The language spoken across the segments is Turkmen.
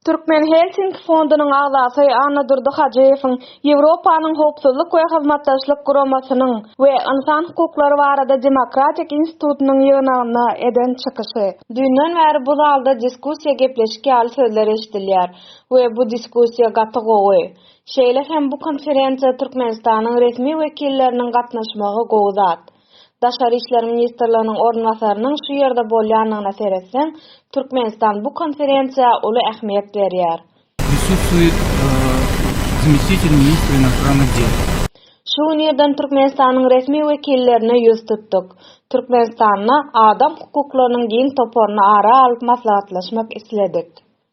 Türkmen Helsinki fondunyň agzasy Annadurdy Hajyýewiň Ýewropanyň Howpsuzlyk we Hyzmatdaşlyk Guramasynyň we Ynsan hukuklary barada demokratik institutynyň ýygnagynda eden çykyşy. Düýnden bäri bu zalda diskussiýa gepleşik ýaly sözler eşidilýär we bu diskussiýa gaty gowy. Şeýle hem bu konferensiýa Türkmenistanyň resmi wekilleriniň gatnaşmagy gowy zat. Daşary işler ministrliginiň orunbasarynyň şu ýerde bolýanyna seretseň, Türkmenistan bu konferensiýa uly ähmiýet berýär. Prisustwuýet zmestitel ministra inostrannah del. Şu gün irden Türkmenistanyň resmi wekillerine ýüz tutduk. Türkmenistanda adam hukuklarynyň giň toparyny ara alyp maslahatlaşmak isledik.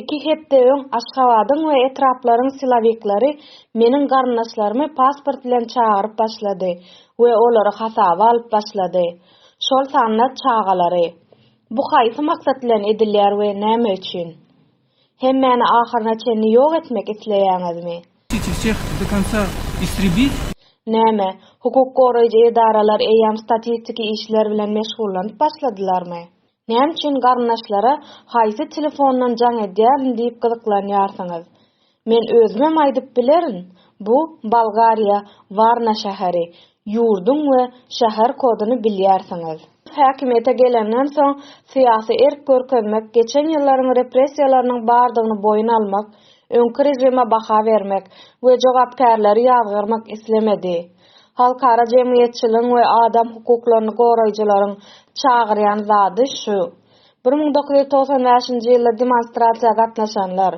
Iki hepde öň Aşgabadyň we etraplaryň silowiklary meniň garyndaşlarymy pasport bilen çagyryp başlady we olary hasaba alyp başlady. Şol sanda çagalary. Bu haýsy maksat bilen edilýär we näme üçin? Hemmäni ahyryna çenli ýok etmek isleýäňizmi? Çeçil şähti do konca istribit? Näme, hukuk goraýjy edaralar eýýäm statistiki işler bilen meşgullanyp başladylarmy? Näme üçin garyndaşlara haýsy telefondan jaň edýärin diýip gyzyklanýarsyňyz? Men özümem aýdyp bilerin, bu Bolgariýa, Warna şäheri, ýurduň we şäher koduny bilýärsiňiz. Häkimiýete gelenden soň syýasy erk görkezmek, geçen ýyllaryň repressiýalarynyň bardygyny boýun almak, öňki režime baha bermek we jogapkärleri ýazgarmak islemedi. Halkara jemgyýetçiligiň we adam hukuklaryny goraýjylaryň çagyrýan zady şu. Bir müň dokuz ýüz togsan bäşinji ýylda demonstrasiýa gatnaşanlar,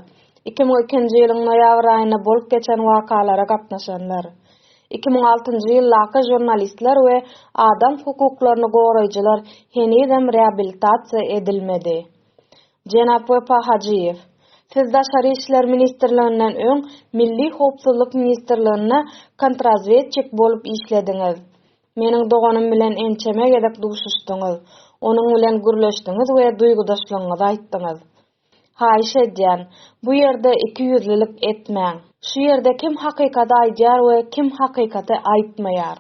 iki müň ikinji ýylyň noýabr aýynda bolup geçen wakalara gatnaşanlar, iki müň altynjy ýyldaky žurnalistler we adam hukuklaryny goraýjylar henizem reabilitasiýa edilmedi. Jenap Wepa Hajyýew, Siz Daşary işler ministrliginden öň Milli howpsuzlyk ministrliginde kontrazwedçik bolup işlediňiz. Meniň doganym bilen ençeme gezek duşuşdyňyz, onuň bilen gürleşdiňiz we duýgudaşlygyňyzy aýtdyňyz. Haýyş edýän, bu ýerde ikiýüzlülik etmäň. Şu ýerde kim hakykady aýdýar we kim hakykaty aýtmaýar?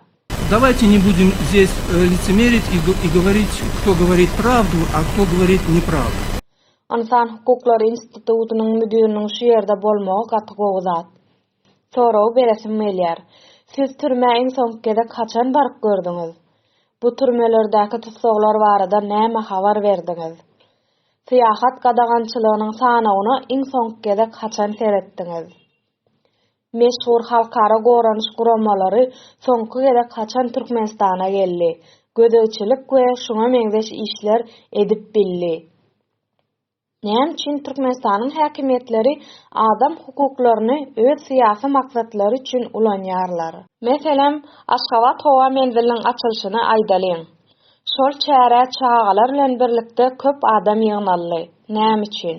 Dawajte ne budim zes licimerit i i govorit kto govorit pravdu, a kto govorit nepravdu. Ynsan hukuklary institutynyň müdiriniň şu ýerde bolmagy gaty gowy zat. Sorag beresim gelýär. Siz türmä iň soňky gezek haçan baryp gördüňiz? Bu türmelerdäki tussaglar barada näme habar berdiňiz? Syýahat gadagançylygynyň sanawyna iň soňky gezek haçan seretdiňiz? Meşhur halkara goranyş guramalary soňky gezek haçan Türkmenistana geldi? Gözegçilik we şuňa meňzeş işler edip bildi. Näme üçin Türkmenistanyň häkimiýetleri adam hukuklaryny öz syýasy maksatlary üçin ulanýarlar? Meselem, Aşgabat howa menziliniň açylyşyny aýdalyň. Şol çärä çagalar bilen birlikde köp adam ýygnaldy. Näme üçin?